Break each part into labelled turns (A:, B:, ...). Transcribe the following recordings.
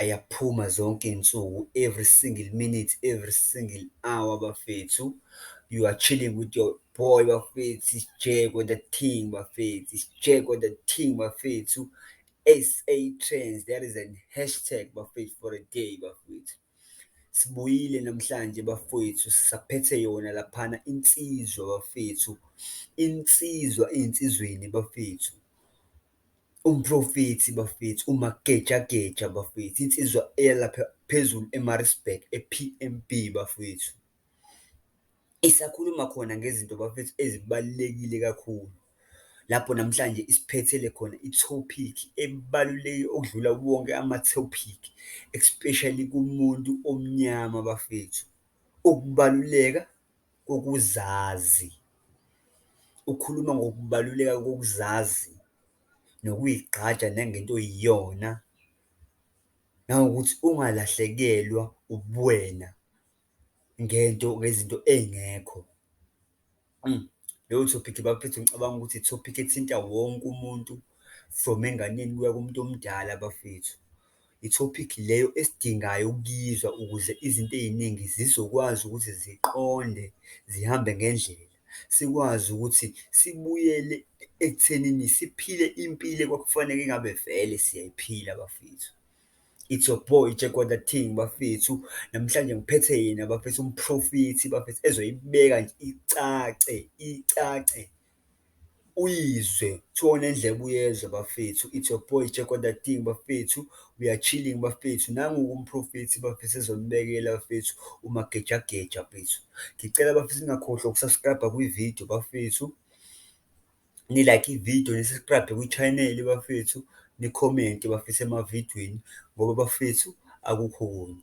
A: Ayaphuma zonke iy'nsuku every single minute, every single hour bafethu. You are chilling with your boy bafethu, it's Jack on the thing bafethu, it's Jack on the thing bafethu. SA Trends, that is an hashtag bafethu for a day bafethu. Sibuyile namhlanje bafethu, saphethe yona laphana insizwa bafethu, insizwa ey'nsizweni bafethu. Umprofethi bafethu umagejageja bafethu, insizwa eya lapha phezulu eMaritzburg e-P_M_B bafwethu, isakhuluma khona ngezinto bafethu ezibalulekile kakhulu. Lapho namhlanje isiphethele khona i-topic ebaluleke okudlula wonke ama-topic, especially kumuntu omnyama bafethu, ukubaluleka kokuzazi. Ukhuluma ngokubaluleka kokuzazi nokuyigqaja nangento oyiyona, nangokuthi ungalahlekelwa ubuwena ngento, ngezinto ey'ngekho. Leyo thophithi bafethu ngicabanga ukuthi ithophithi ethinta wonke umuntu from enganeni kuya kumuntu omdala bafethu. Ithophikhi leyo esidingayo ukuyizwa ukuze izinto ey'ningi zizokwazi ukuthi ziqonde, zihambe ngendlela. Sikwazi ukuthi sibuyele ekuthenini siphile impilo ekwakufaneke engabe vele siyayiphila bafethu. It's your boy Jekota Ting bafethu. Namhlanje ngiphethe yena bafethu umphrofithi bafethu ezoyibeka nje icace, icace. Uyizwe kuthiwa unendlebe uyezwa bafethu it's your boy Jekotating bafethu, we are chilling bafethu nangu-ke umprofethi bafethu ezonibekela bafethu umagejageja bafethu. Ngicela bafethu ningakhohlwa uku-subscribe-a kwividiyo bafethu, ni-like ividiyo ni-subscribe-e kwi-channel bafethu, nikhomente bafethu emavidiyweni ngoba bafethu akukho okunye.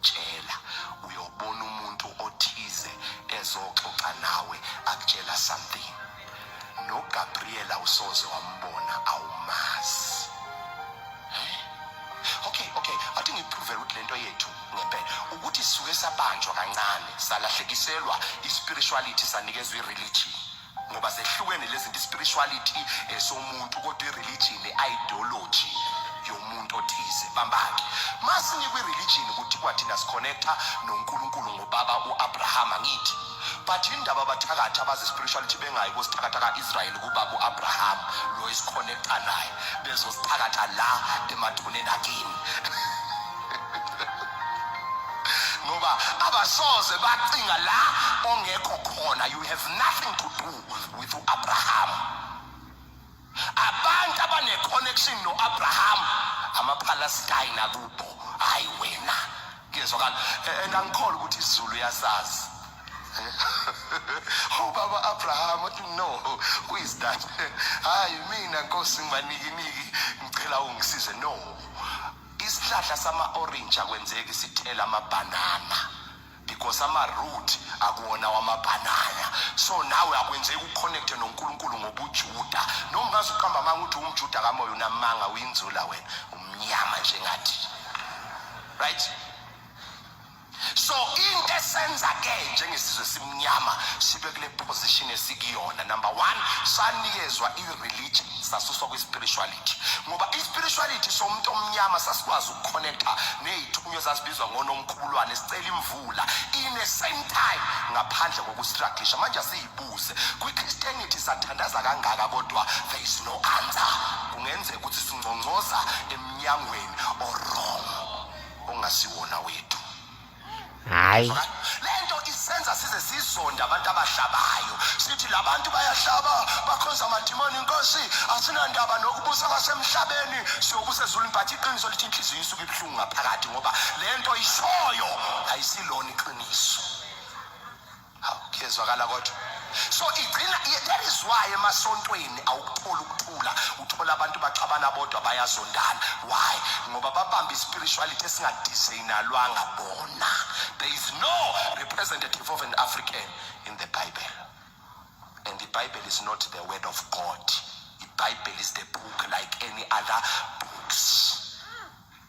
B: tshela uyobona umuntu othize ezoxoxa nawe akutshela something nogabriela usoze wambona awumazi okay okay athi ngiprove ukuthi lento yethu ngempela ukuthi sisuke sabanjwa kancane salahlekiselwa ispirituality sanikezwa ireligion ngoba zehlukene lezi nto spirituality esomuntu eh, kodwa ireligion ideology yomuntu othize bambake masinikwe religion ukuthi kwathina siconnecta noNkulunkulu ngobaba uAbraham ngithi but indaba abathakathi abazi spirituality bengayi kosithakatha kaIsrael kubaba uAbraham lo isiconnecta naye bezosithakatha la emathuneni akini ngoba abasoze bacinga la ongekho khona you have nothing to do with uAbraham abantu abane connection noAbraham amaphalestine akubo hayi wena ngiyezwakala and angikholwa ukuthi izulu yasazi ubaba oh, abraham uthi no who is that hayi mina nkosi ngibanikiniki ngicela ungisize no isihlahla sama-orange akwenzeki sithela amabhanana because ama-root akuwona wamabhanana so nawe akwenzeki uconnecte nonkulunkulu ngobujuda noma ungaze uqamba amanga ukuthi umjuda kamoya unamanga uyinzula wena umnyama njengathi right so into esenza ke njengesizwe simnyama sibe kule position esikuyona number one sanikezwa i-religion sasuswa kwi-spirituality ngoba i-spirituality somuntu omnyama sasikwazi ukuconnecta ney'thunywa zazibizwa ngonomkhubulwane sicela imvula in the same time ngaphandle kokustruglisha manje asiyibuze kwi-christianity sathandaza kangaka kodwa there is no answer kungenzeka ukuthi singcongcoza emnyangweni orong ongasiwona wethu
A: hayi lento
B: isenza size sizonda abantu abahlabayo sithi labantu bayahlaba bakhonza amadimoni inkosi asinandaba nokubusa kwasemhlabeni siyobusa ezulwini but iqiniso lithi inhliziyo isuke ibuhlungu ngaphakathi ngoba lento ishoyo ayisilona iqiniso Kuyezwakala kodwa. So igcina that is why emasontweni awukuthola ukuthula, uthola abantu baxabana bodwa bayazondana. Why? Ngoba babamba ispirituality esingadesignalwanga bona. There is no representative of an African in the Bible. And the Bible is not the word of God. The Bible is the book like any other books.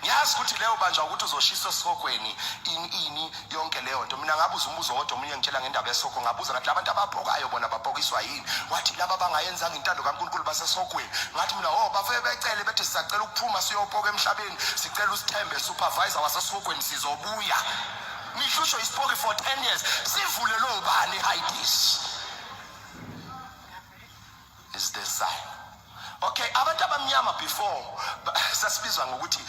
B: ngiyazi ukuthi leyo banjwa ukuthi uzoshiswa esihogweni ini ini yonke leyo nto mina ngabuza umbuzo wodwa omunye ngitshela ngendaba yesihogwe ngabuza ngathi labantu ababhokayo bona babhokiswa yini wathi laba bangayenzanga intando kankulunkulu basesihogweni ngathi mina o oh, bafike becele bethi sisacela ukuphuma siyobhoka emhlabeni sicela usithembe supervisor wasesihogweni sizobuya nihlushwe isipoki for 10 years sivule lowo bani hidis is the sign okay abantu abamnyama before sasibizwa ngokuthi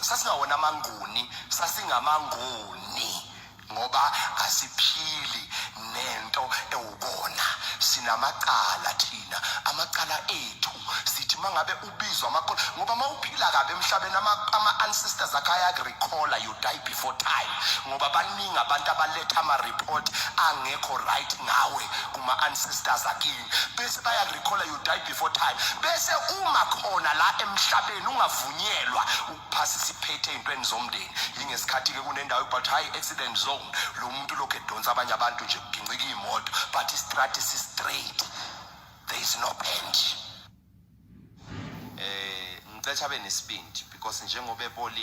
B: sasingawona amanguni sasingamanguni ngoba asiphili nento ewubona sinamacala thina amacala ethu sithi mangabe kubizwa amakhono ngoba uma uphila kabi emhlabeni ama-ancestors akho ayakurecalla you die before time ngoba baningi abantu abaletha ama-report angekho right ngawe kuma-ancestors akini bese bayakurecalla you die before time bese uma khona la emhlabeni ungavunyelwa ukuphasa isiphethe ey'ntweni zomndeni yingesikhathi-ke kunendawo but high accident zone lo muntu lokhu edonsa abanye abantu nje kugincika iy'moto but istrati si-straight there is no bench eh ngicela abe nesibindi because njengoba ebolile